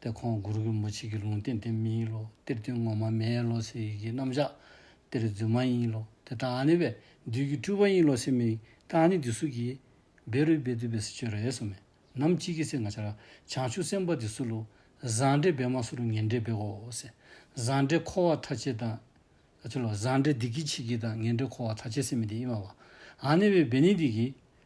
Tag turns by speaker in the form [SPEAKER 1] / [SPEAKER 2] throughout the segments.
[SPEAKER 1] ཏེ་ཁོང་མགུར་གྱི་མུ་ཆིག་གི་ལུང་བསྟན་དེ་མི་ཡིན་ལོ་གཏེར་སྟོན་ངོ་མ་མེད་ལོ་ཟེར་ཡི་གེ་རྣམ་བཞག་གཏེར་རྫུན་མ་ཡིན་ལོ་དེ་དྲང་ནི་བས་འདུས་ཀྱི་སྤྲུལ་པ་ཡིན་ལོ་ཟེར་མི་དྲང་ནི་འདི་སུ་གིས་བེ་རུས་པའི་འདུས་པའི་སྲི་ཆོད་རེད་སོ་མེད་ནམ་ཅིག་གི་ཚེ་ང་ཆར་བྱང་ཆུབ་སེམས་དཔའ་དེ་སུ་ལོ་བཟང་འདྲེ་བེ་མ་སུ་རུ་ངན་འདྲེ་བེ་ཨོ་ཟེར་བཟང་འདྲེ་འཁོར་བ་ཐ་ཆད་དང། ཆུ་ལོ་བཟང་འདྲེ་སྡིག་གིས་འཆི་གི་དང་ངན་འདྲེ་འཁོར་བ་ཐ་ཆད་སེམས་མི་དེ་ཨི་མ་བ་ཨ་ནི་བས་བེ་ནི་འདི་གིས་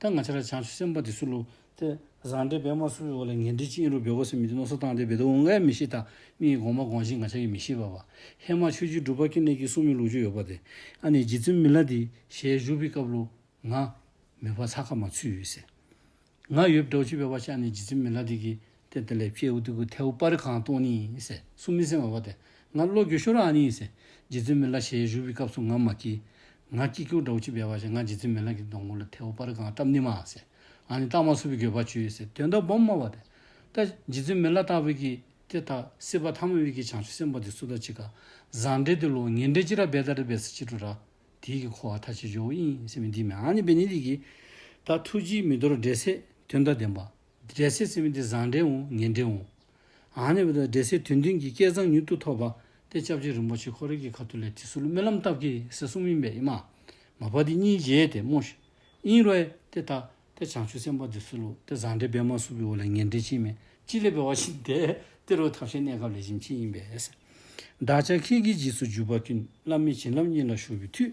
[SPEAKER 1] ད་ང་ཕྱི་ར་བྱང་ཆུ་སེམས་དཔའ་དེ་སུ་ལུ། དེ་བཟང་འདྲེ་བེ་མ་སུ་བེ་བོ་ལ་ངན་འདྲེ་ཅིན་རུ་བེ་བོ་སི་མི་དེ་ནོ་སོ་ཐང་དེ་བེ་དོ་འུ་འགའི་མི་ཤི་ད་མི་ཡི་གོང་མ་གོང་ཤི་ང་ཆ་ཡི་མི་ཤི་བ་བ། ཧེ་མ་ཆོས་རྗེའི་སྒྲུབ་པ་ཀི་ནེ་ཀི་སུ་མི་ལུག་ཅུ་ཡོ་བ་དེ། ཨ་ནེ་རྗེ་བཙུན་མི་ལ་དེ་ཞལ་བཞུགས་པི་སྐབས་ལུ། ང། མི་བ་ཚ་ཁ་མ་ཚུད་ཡོད་སེ། ང་ཡོད་བྲོ་ཆུ་བེ་བ་ཤ་ཨ་ནེ་རྗེ་བཙུན་མི་ལ་དེ་ཀི་དེ་དེ་ལས་ཕྱེད་འུ་ཐུག་གི་ཐལ་བུ་པར་གང་སྟོང་ནི། གསུམ་མི་གསལ་བ་བ་དེ་ང་བློ་འགྱོད་ཤོར་ར་ནི། རྗེ་བཙུན་མི་ལ་ཞལ་བཞུགས་པའི་སྐབས་སུ་ང་མ་སྐྱིད། ང་སྐྱིད་ཁྱོད་དགྲ་བོ་ཅི་བས་བ་ཞེས་ང་རྗེ་བཙུན་མི་ལ་གི་སྡོང་མགོ་ལ་ཐལ་བུ་པར་གང་བཀྲམ་ནི་མ། ང་ནི་རྟགས་མ་སུ་བའི་འགྱོད་པ་ཆུད། དོན་དག་སྦོམ་སྨྲ་བ་དེ། ད་རྗེ་བཙུན་མི་ལ་རྟགས་བས་ཀྱི། དེ་ལྟ་སྲིད་པ་ཐ་མ་བས་ཀྱི་བྱང་ཆུབ་སེམས་དཔའ་དེ་སུ་དང་ཅི་ག། བཟང་འབྲས་དེ་ལོ་ངན་འབྲས་ཅི་ར་བས་ད་རི་བས་སུ་ཅི་དྲུ་ར། དེའི་གི་འཁོར་བ་མཐའ་ཅི་འཇོ་བོ་ཨིན་སེམས་མི་འདི་མི་ཨ་ནི་བས་ནི་དེ་གི། ད་ཐུགས་རྗེའི་མི་དོར་འབྲས་སེ་དོན་དག་བདེན་པ། འབྲས་སེ་སེམས་འདི་བཟང་འདྲའི་འོང་ངན་འདྲའི་འོང། ཨ་ནེ་བོ་དང་འབྲས་སེ་དོན་མཐུན་གྱི་སྐལ་བཟང་མྱུར་དུ་ཐོབ་པ་སྟེ་སྐྱབས་རྗེ་རིན་པོ་ཆེ་ཁོ་རེ་གི་ཁ་ཐུག་ལས་དེ་སུ་ལ་སྨོན་ལམ་བཏབ་ཀྱི་སེ་གསུམ་ཡིན་པས་ཨི་མ། མ་བ་དེ་གཉིས་བརྗེས་ཏེ་སྨོ། ཨིན་རོའི་ཏེ་ད། ཏེ་བྱང་ཆུབ་སེམས་དཔའ་འདི་སུ་ལུ་ཏེ་བཟང་འདྲའི་སྦེད་མ་སུ་བིའོ་ལ་ངན་འདྲའི་ཕྱིན་མེད་ཅི་ལས་བེ་བ་ཞིག་དེ་ཏེ་རོའི་ཐབས་ཤེས་གནས་སྐབས་ལས་བྱིན་ཕྱིན་ཡིན་པས། བདག་ཅག་ཁྱེད་ཀྱི་རྗེས་སུ་འཇུག་པ་ཀུན་བླ་མེད་བྱིན་རླབས་གཉིས་ལ་ཞུགས་པའི་མཐུས།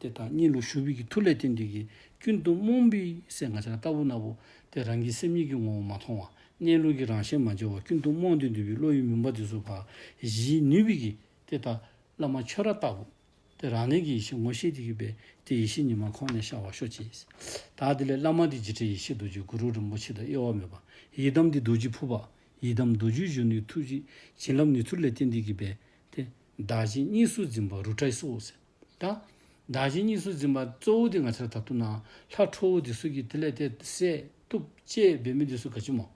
[SPEAKER 1] དེ་དང་གཉིས་ལུགས་ཞུ་བིས་ཀྱི་ཐུགས་ལས་ཏིང་འདུས་ཀྱི་སྐྱིལ་ཀྲུང་རྨོངས་པའི་སེམས་ང་ཆ་ལྟ་བུ་སྣ་བུག་དེ་རང་གི་སེམས་ཉིད་ཀྱི་ངོ་བོ་མ་མཐོང་བ་གནས་ལུགས་ཀྱི་རང་ཞལ་མ་འབྱེད་བ་སྐྱིལ་ཀྲུང་རྨོངས་ཏིང་འདུས་པའི་བློ་ཡི་མུན་པ་དེ་སུ་བཞིའི་ནུས་བིས་ཀྱི་དེ་ལྟ་བླ་མ་ཆོས་ར་ལྟ་བུ་དེ་རང་གནས་ཀྱི་ཡེ་ཤེས་ངོ་ཤེས་དེ་གུས་པས་དེ་ཡེ་ཤེས་ཉི་མ་ཁོང་ནས་ཤར་བར་ཤོག་ཅིག། དག་དེ་ལས་བླ་མ་དེ་རྗེ་ཁྲི་ཡེ་ཤེས་རྡོ་རྗེ་གུ་རུ་རིན་པོ་ཆེ་དང་དབྱེ་བ་མེད་པ་ཡི་དམ་འདི་རྡོ་རྗེ་ཕུར་པ་ཡི་དམ་རྡོ་རྗེའི་གཞོན་ནུའི་ཐུགས་ཀྱི་བྱིན་རླབས་ནི་ཐུགས་ལས་ཏིང་འདུས་ཀྱི་དཔལ་དེ། བདག་བྱིན་གཉིས་སུ་འཛིན་པ་རུ་ཏྲའི་སྲོག་ཟད། དང། བདག་གཞན་གཉིས་སུ་འཛིན་པ་གཙོ་བོ་དེ་ང་ཚེར་ད་དུ་ན་ལྷ་ཁྲོ་བོ་འདི་སུ་གིས་དེ་ལས་དེ་བསད་གཏུབ་གཅད་འབད་མི་འདི་སུ་ག་ཅི་མོ།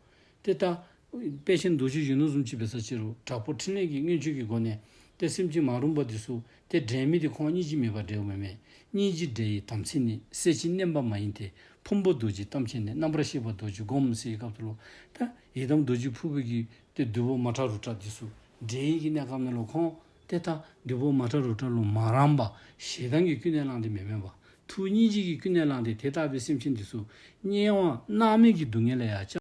[SPEAKER 1] དེ་ལྟ། དཔལ་ཆེན་རྡོ་རྗེ་གཞོན་ནུ་གསུམ་གཅིག་པའི་ས་བཅད་རུ་དྲག་པོ་ཕྲིན་ལས་ཀྱི་མངོན་སྤྱོད་ཀྱི་སྒོ་ནས་དེ་སེམས་ཅན་མ་རུངས་པ་འདི་སུ་དེ་འདྲེན་མི་དེ་ཁོང་གཉིས་ཅི་མེད་པར་འདྲེའུ་མི་མེད་གཉིས་ཅི་འདྲེ་ཡི་དམ་ཚིག་ནི་གསལ་བྱེད་བསྣན་པ་མ་ཡིན་ཏེ་ཕུང་པོ་རྡོ་རྗེའི་གཏམ་ཆེན་ནི་རྣམ་པར་བཤད་པ་རྡོ་རྗེ་སྒོམ་སེའི་སྐབས་དུ་ལོ། དང། ཡི་དམ་རྡོ་རྗེ་ཕུར་བུ་གྱི་སྟེ་བདུད་བོ་མ་ཁྲ་རུ་ཁྲ་འདི་སུ་འདྲེ་ཡིན་གྱི་གནས་སྐབས་ནི་ལོ་ཁོང། དེ་ལྟ་བདུད་པོ་མ་ཏྲ་རོ་ཏྲ་ལུ་མ་རམ་པ་ཞེ་སྡང་གིས་ཀུན་ནས་བསླངས་ཏེ་མི་དམན་པ། ཐུགས་མཉེས་བྱེད་ཀྱིས་ཀུན་ནས་བསླངས་ཏེ་དེ་ལྟ་བུའི་སེམས་ཅན་འདི་སུ། སྙན་དབང་སྣང་མེད་ཀྱི་སྡུག་བསྔལ་ལ་ཡང་ཅང།